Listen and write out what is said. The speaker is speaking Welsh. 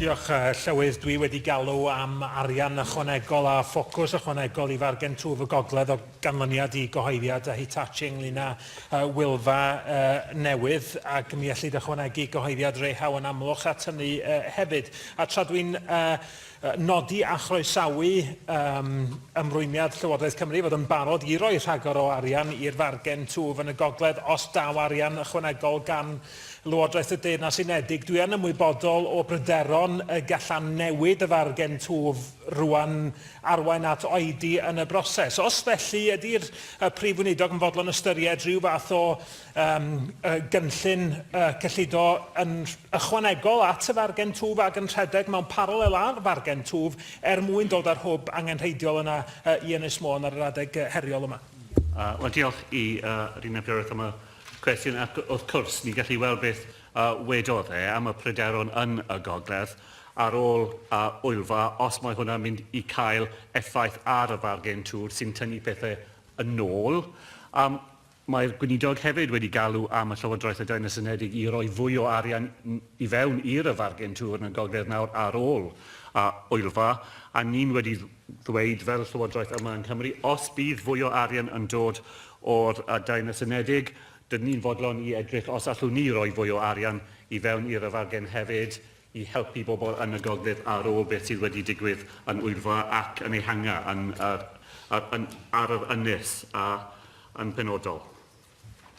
Diolch, Llywydd. Dwi wedi galw am arian ychwanegol a ffocws ychwanegol i fargen twf y gogledd o ganlyniad i gyhoeddiad Hitachi ynglŷn â Wylfa newydd, ac mi ellid ychwanegu cyhoeddiad Rehau yn Amlwch at hynny hefyd. A tra dwi'n nodi a chroesawu ymrwymiad Llywodraeth Cymru i fod yn barod i roi rhagor o arian i'r fargen twf yn y gogledd os daw arian ychwanegol gan Lywodraeth y Deyrnas Unedig, dwi yn ymwybodol o bryderon y gallan newid y fargen twf rwan arwain at oedi yn y broses. Os felly, ydi'r Prif Weinidog yn fodlon ystyried rhyw fath o um, gynllun uh, cyllido yn ychwanegol at y fargen twf ac yn rhedeg mewn paralel â'r fargen twf er mwyn dod â'r hwb angenrheidiol yna uh, i Ynys Môn ar yr adeg heriol yma? Uh, Wel, diolch i uh, Rina Pierrett am y Cwestiwn, ac wrth cwrs, ni'n gallu weld beth a wedodd e am y pryderon yn y gogledd ar ôl a Ŵylfa, os mae hwnna'n mynd i cael effaith ar y fargen twr sy'n tynnu pethau yn ôl. A mae'r Gweinidog hefyd wedi galw am y Llywodraeth y Deyrnas Unedig i roi fwy o arian i fewn i'r y fargen twr yn y gogledd nawr ar ôl a Ŵylfa, a ni'n wedi ddweud fel Llywodraeth yma yng Nghymru, os bydd fwy o arian yn dod o'r Daenys Unedig, dydyn ni'n fodlon i edrych os allwn ni roi fwy o arian i fewn i'r fargen hefyd i helpu bobl yn y gogledd ar ôl beth sydd wedi digwydd yn Wyddfa ac yn Ehangu yn, ar, ar, yn, ar yr ynys a yn penodol.